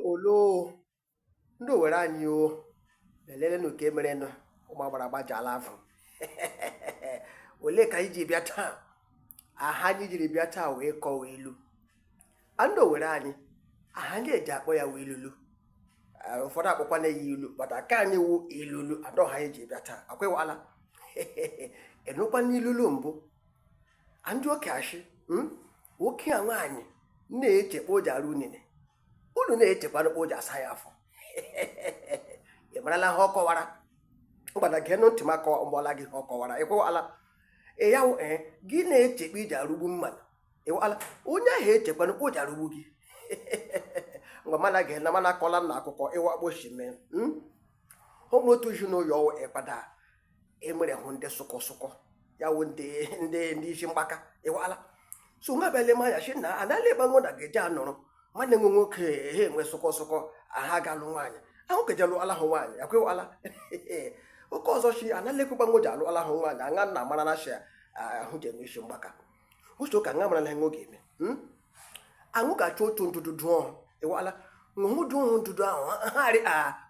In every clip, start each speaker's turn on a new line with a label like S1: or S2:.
S1: oloo ndị owere anyị o lelelenu nke merenụ ụmụ agbara agbajala afọ olee ka anyị ji bịa taa aha anyị jiri bịa taa wee kọwa ilu a ndị owere anyị aha anyị eji akpọ ya wụ ilulu Eh, ụfọdụ akpọkwa na ya ilu but ake anyị wụ ilulu and aha anyị jiri bịa taa akwa ịwala ịnụkwana ilulu mbụ ndị okie ashị hmm? okie nwaanyị na-eche kpa o ji arụ unine unine echekwana kpa o ji asa ya afọ ị marala ha ọ kọwara mgbada gee nụ ntị m akọwa mgbala gị ha ọ kọwara ịkwụwala ya wụ ee gị na-eche kpa i ji arụgbu mmadụ ịwala onye ahụ echekwana kpa o ji arụgbu gị ngwa mana gee na mana akọla na akụkọ ịwa kpa o shi mee n'otu ezi n'ụyọ ọwụ ịkpada e nwere hụ ndị sụkọ sụkọ ya wụ ndị ndị ndị isi mgbaka ịwala so nwa bịala ma ya si na anala ebe nwa na ga-eji anọrọ nwanne nwe nwoke ha enwe sụkọ sụkọ aha galụ nwaanyị ahụ keje alụala hụ nwaanyị akwa ịwala oke ọzọ shi anala ekwekwa nwoji alụala hụ nwaanyị aṅa nna mara na shia ahụ ji enwe isi mgbaka uche ụka nga mara na nwe ga-eme hmm? aṅụ ga-achọ otu ndụdụ dụọ ịwala ṅụhụ dụọ ndụdụ ahụ ha arị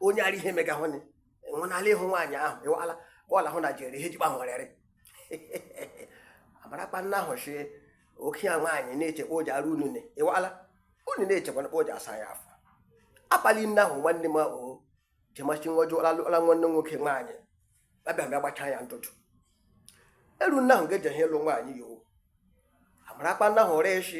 S1: onye arị ihe megahụnị enwenala ịhụ nwaanyị ahụ ịwala bọọlụ ahụ na jere ihe jikpa hụrịrị amara kpa nna ahụ shi okie nwaanyị na-eche kpa ọ ja arụ unine ịwala unine echekwana kpa ọ ja asa ya afọ akpali nna ahụ nwanne m ahụ jemachi nwa ọjọọ ọla nwanne nwoke nwaanyị abịa bịa gbachaa ya ntụtụ elu nna ahụ ga-eje ihe ịlụ nwaanyị ya o amara kpa nna ahụ ree shi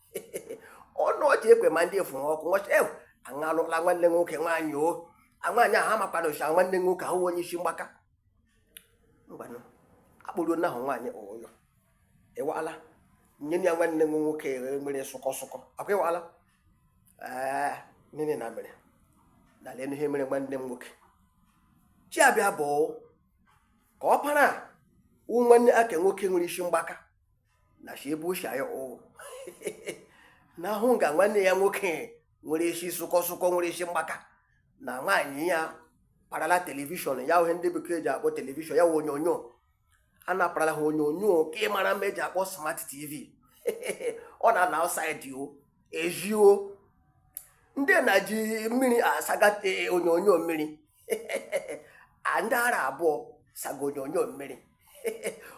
S1: ọnụ ọchị ekwe ma ndị efu ha ọkụ nwọchị ewu aṅalụla nwanne nwoke nwaanyị o nwaanyị ahụ amakwana ụcha nwanne nwoke ahụ onye isi mgbaka ngwanụ akpụrụ nahụ nwaanyị ụyọ ịwala nye ya nwanne m nwoke nwere sụkọ sụkọ akwa ịwala ee nene na mere na lenu ihe mere nwanne m nwoke shi abịa bụ ka ọ para nwanne ake nwoke nwere isi mgbaka na shi ebe o shi ayọ o na ahụ nga nwanne ya nwoke nwere isi sụkọ sụkọ nwere isi mgbaka na nwaanyị ya parala telivishọn ya ihe ndị bekee ji akpọ telivishọn ya wụ onyonyo a na-aparala ha onyonyo ke mara mma eji akpọ smart tv ọ na na outside o ezi o ndị na ji mmiri asaga eh, onyonyo mmiri ndị ara abụọ saga onyonyo mmiri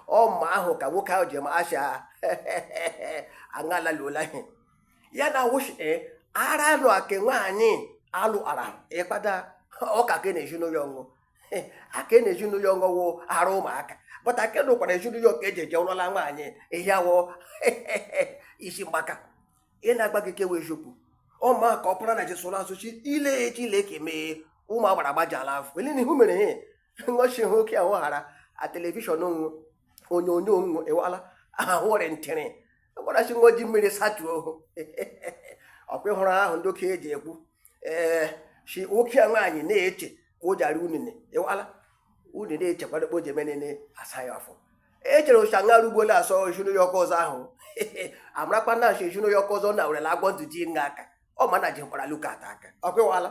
S1: ọ ma ahụ ka nwoke ahụ ji ma asha aṅalaluola ihe ya na wụ shi eh, ara alụ ake nwaanyị alụ ara ịkpada ọka ke na ezi n'ụyọ o ake na ezi n'ụyọ o wụ ara ụmụaka but ake nọkwara ezi n'ụyọ ka eji eje alụọla nwaanyị ihe a wụ isi mgbaka ị na-agba gị kewe eziokwu ọ ma ka ọ pụrụ na jesụrụ asụchi ile ya echi ile ka emee ụmụ agbara gbajala afọ ele na ihu mere ihe ngọchi hụ oke ahụ ghara a telivishọn ọ wụ onyonyo onwu ewala ahụrị ntịrị gwarachi ngoji mmiri satuo ọkwa ị hụrụ ihe ndị okenye ji ekwu ee eh, si oke a nwaanyị na-eche ka ọ ja-ara unene ịwala unene echekwado kpo ji emenene asa ya afọ echere ụcha nga rugbola asọ ejunu ya ọkọ ọzọ ahụ amarakwa na nso ejunu ya ọkọ ọzọ na werela agwọ ndụ ji n'aka ọ ma na jikwara luka ata aka ọ kwewala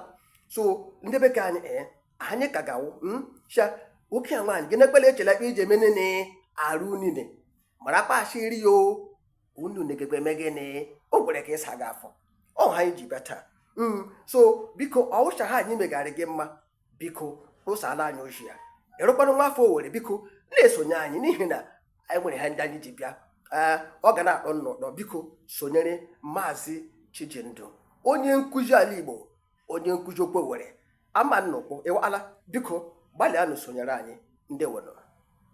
S1: so ndị bekee anyị ee eh, anyị ka ga-awụ hmm? sha oke a nwaanyị gị na-ekpele echela ikpe iji emenene ara unene marakwa a sị i rie ya o unene gakwa eme gịnị o kwere ka ịsa gị afọ ọ ha anyị ji bịa taa hmm, so biko ọwụcha ha anyị megha rị gị mma biko ụsala anyị ozi ya ị wụrụkwa nwa afọ owere biko na-esonye anyị n'ihi na anyị nwere ha ndị anyị ji bịa eh, ọ ga na-akpọ nnọọ biko sonyere maazị chijindụ onye nkụzi ala igbo onye nkụzi okwu owere ama nnukwu ịwala biko gbalịanụ sonyere anyị ndị were